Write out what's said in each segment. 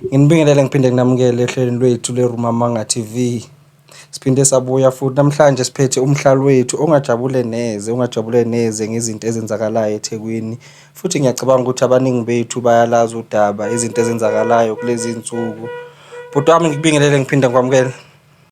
Nginibingelele ngiphinde nginamukele ehlelweni lwethu leRumamanga TV. Siphinde sabuya futhi namhlanje siphethe umhlali wethu ongajabule neze, ongajabule neze ngezinto ezenzakalayo eThekwini. Futhi ngiyacabanga ukuthi abaningi bethu bayalazi udaba izinto ezenzakalayo kulezi nsuku. Bhuti wami ngikubingelele ngiphinde ngikwamukele.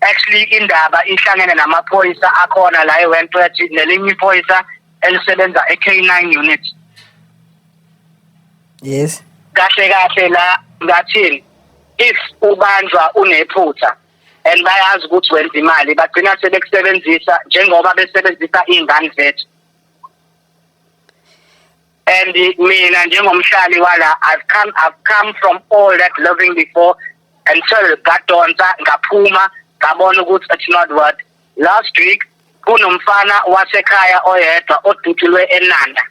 actually indaba ihlangene namaphoyisa akhona la eWentworth nelinye iphoyisa elisebenza eK9 unit yes kahle kahle la ngathini if ubanjwa unephutha and bayazi ukuthi wenza imali bagcina sebekusebenzisa njengoba besebenzisa ingane zethu and mina njengomhlali wala I've come I've come from all that loving before and so ngadonsa ngaphuma ngabona ukuthi it's not what last week kunomfana wasekhaya oyedwa odutshulwe eNanda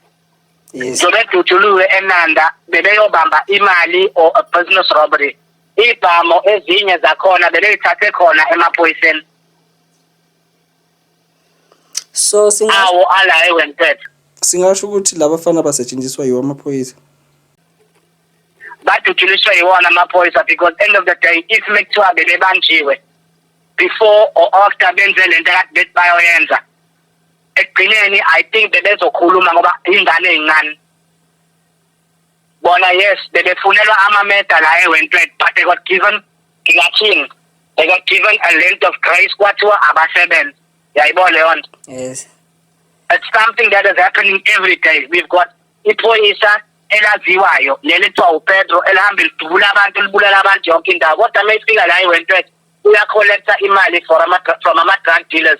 sebedutshulwe eNanda bebeyobamba imali or a business robbery ibhamo ezinye zakhona beleyithathe khona emaphoyiseni so singa- awo ala ewentetho singasho ukuthi laba fana basetshenziswa yiwo amaphoyisa baduduliswe yiwona amaphoyisa because end of the day if mekuthiwa bebebanjiwe before or after benze le nto akade bethi bayoyenza ekugcineni i think bebezokhuluma ngoba ingane eyincane bona yes bebefunelwa amameda la ewentwet but they got given ngingathini they got given a length of grace kwathiwa abasebenze yayibo leyo nto yes it's something that is happening every day we've got iphoyisa elaziwayo leli kuthiwa upetro elihamba lidubula abantu libulala abantu yonke indawo kodwa uma ifika la ewentwet uyacollecta imali for ama from ama-drug dealers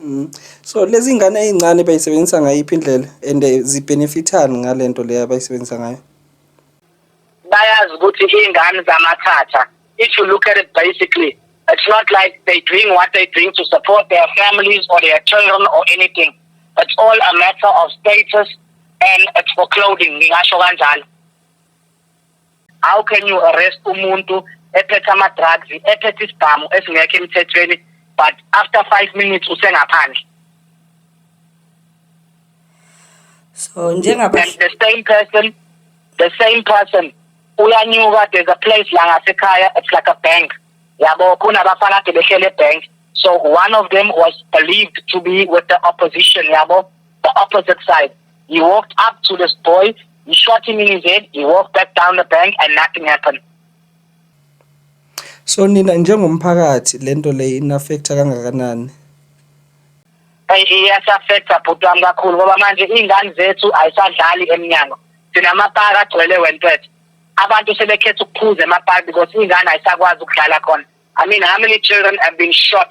Mm. So lezi ngane ezincane bayisebenzisa ngayiphi indlela and eh, zibenefithani ngalento leyo abayisebenzisa ngayo? bayazi ukuthi iy'ngane zamathatha if you look at it basically it's not like they doing what they doing to support their families or their children or anything it's all a matter of status and it's for clothing ngingasho kanjalo how can you arrest umuntu ephethe ama-drugs ephethe isibhamu esingekho emthethweni but after five minutes usengaphandle so and the same person the same person uyanyuka there's a place la ngasekhaya it's like a bank yabo kunabafana ade behlele ebank so one of them was believed to be with the opposition yabo the opposite side He walked up to this boy, he shot him in his head, he walked back down the bank and nothing happened. So nina njengomphakathi lento le in affecta kangakanani? Iyasafecta bhuti wami kakhulu ngoba manje iy'ngane zethu ayisadlali emnyango. Sinamapaki agcwele wentwethu. Abantu sebekhetha ukuphuza emapaki because iy'ngane ayisakwazi ukudlala khona. I mean how many children have been shot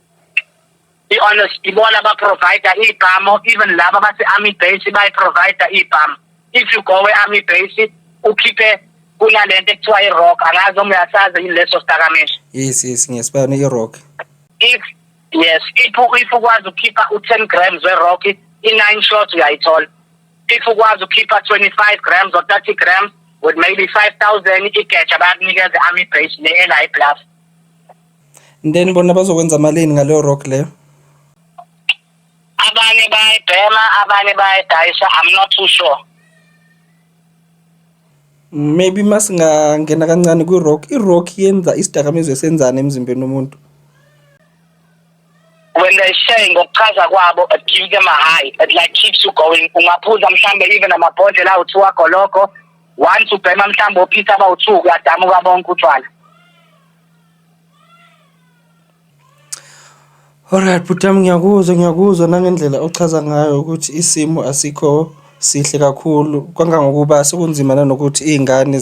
i-honest ibona baprovider iy'bhamu even laba base-army base bayiprovider iy'bhamu if you go e-army base ukhiphe kunale nto ekuthiwa i-rock angazi noma uyasazi yini leso sidakamizwa yes yes ngiyasibona i-rock if yes if if ukwazi ukukhipha u-10 grams we-rock i-nine shots uyayithola if ukwazi ukukhipha 25 grams or 30 grams with maybe 5000 igeja bayakunikeza i-army base ne-eli bluff then bona bazokwenza malini ngaleyo rock leyo abanye bayayibhema abanye bayayidayisa i'm not too sure maybe masingangena kancane kwi-rock i-rock yenza isidakamizwa esenzani emzimbeni womuntu when they say ngokuchaza kwabo it gives them a high it like keeps you going ungaphuza mhlambe even amabhodlela awu-two agoloko once ubhema mhlambe ophisa abawu-two uyadamuka bonke utshwala Alright bhuti yami ngiyakuzwa ngiyakuzwa nangendlela ochaza ngayo ukuthi isimo asikho sihle kakhulu kangangokuba sekunzima nanokuthi iy'ngane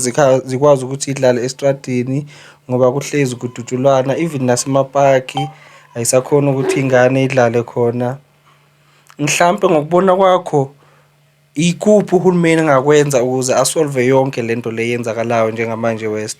zikwazi ukuthi idlale estradini ngoba kuhlezi kudutshulwana even nasemapaki ayisakhoni ukuthi ingane idlale khona. Mhlampe ngokubona kwakho ikuphi uhulumeni engakwenza ukuze a-solve-e yonke le nto le eyenzakalayo njengamanje West?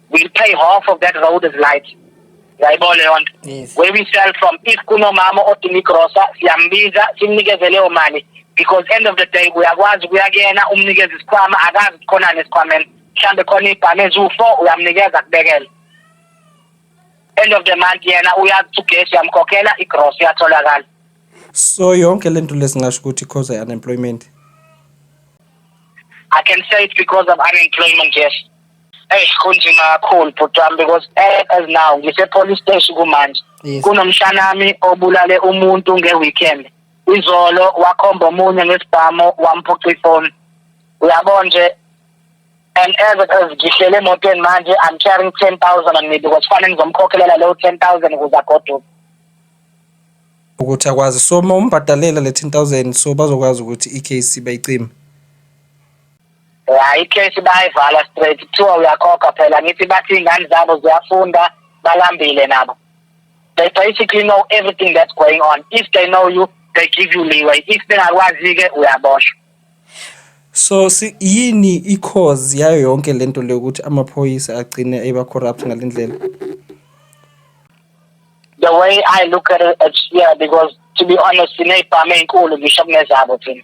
we pay half of that road as light yayibona leyo nto Yes. where we sell from if kunomama odinga igrosa siyambiza simnikeze leyo mali because end of the day uyakwazi ukuya kuyena umnikeze isikhwama akazi ukuthi khonani esikhwameni mhlawumbe khona ibhame eziwu-four uyamnikeza kubekele end of the month yena uyazi ukuthi ugesi uyamkhokhela igrosa iyatholakala so yonke le nto lesingasho ukuthi cause i-unemployment i can say it because of unemployment yes Hey kunzima kakhulu bhuti wami because eh, as now ngise police station kumanje Yes. kunomshanami obulale umuntu nge weekend izolo wakhomba omunye ngesibhamu wamphuca ifoni uyabona nje and as it is ngihlele emotweni manje i'm carrying 10000 on me because fanele ngizomkhokhelela leyo 10000 ukuze agoduke ukuthi akwazi so uma umbhadalela le 10000 so bazokwazi ukuthi i-case bayicime ya icase bayivala straight kuthiwa uyakhokha phela ngithi bathi iy'ngane zabo ziyafunda balambile nabo they basically know everything that's going on if they know you they give you leeway if bengakwazi-ke uyaboshwa so si, yini i-cause yayo yonke le nto leyo ukuthi amaphoyisa agcine eba-corrupt ngale ndlela the way i look at it it's, yeah because to be honest siney'bhamu ey'nkulu ngisho kunezabo thina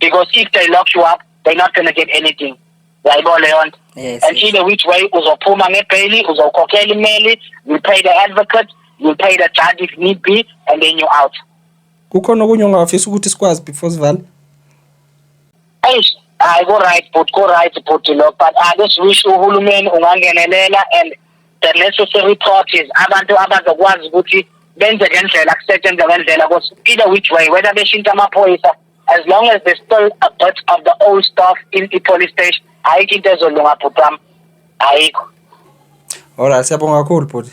because if they lock you up they're not going to get anything yayibona leyo nto Yes. and either which way uzophuma ngebheyili uzokhokhela imali you pay the advocate you pay the judge if need be and then you're out Kukhona okunye ongafisa ukuthi sikwazi before sivala. eish hayi ku-right but ku-right bhuti lo but ake siwish uhulumeni ungangenelela and the necessary parties abantu abazokwazi ukuthi benze ngendlela kusetshenzwe ngendlela because either which way whether beshintsha amaphoyisa as long as they still a part of the old staff in the police station ayikho into ezolunga bhuti wami ayikho Alright, siyabonga kakhulu bhuti.